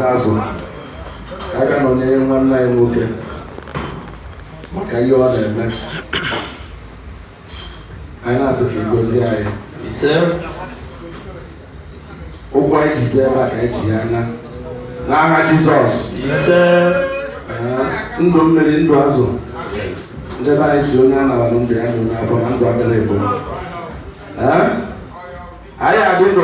azụ ka a ga nọnyere nwanne anyị nwoke maka ihe ọ na-eme anyị na-asị ka ị gọzie anyị ise ụkwụ anyị ji bịa ebe a ka anyị ji ya naa n'aha Jizọs ise Ee, ndụ mmiri ndụ azụ ndị be anyị sị onye anabara ndụ ya ndụ n'afọ na ndụ abịa na-ebu Ee? anyị adị ndụ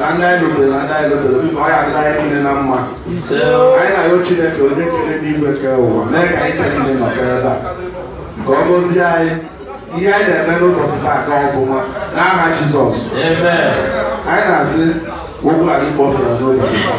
na ndị anyị lutere na ndị anyị lutere biko ọ ya-adịlị anyị niile na mma anyị na-ayọ Chineke onye kere enigwe kee ụwa mee ka anyị ncha niile nọkọ ebe a ka ọ gọzie anyị ihe anyị na-eme n'ụbọchị taa aga ọfụma n'aha Jizọs anyị na-asị oku anyị kpọfere n'ụbọchị taa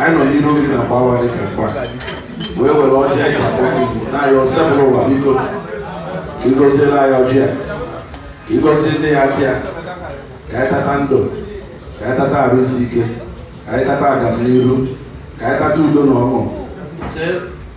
anyị nọ n'iru gị na mgbawa dị ka mgba wee were ọjị anyị na-akpọ gị na-ayọ Osebụlụwa biko ka ị gọzielụ anyị ọjị a ka ị gọzie ndị ya-ata ya ka anyị tata ndụ ka anyị tata arụ isi ike ka anyị tata agamniru ka anyị tata udo na ọṅụ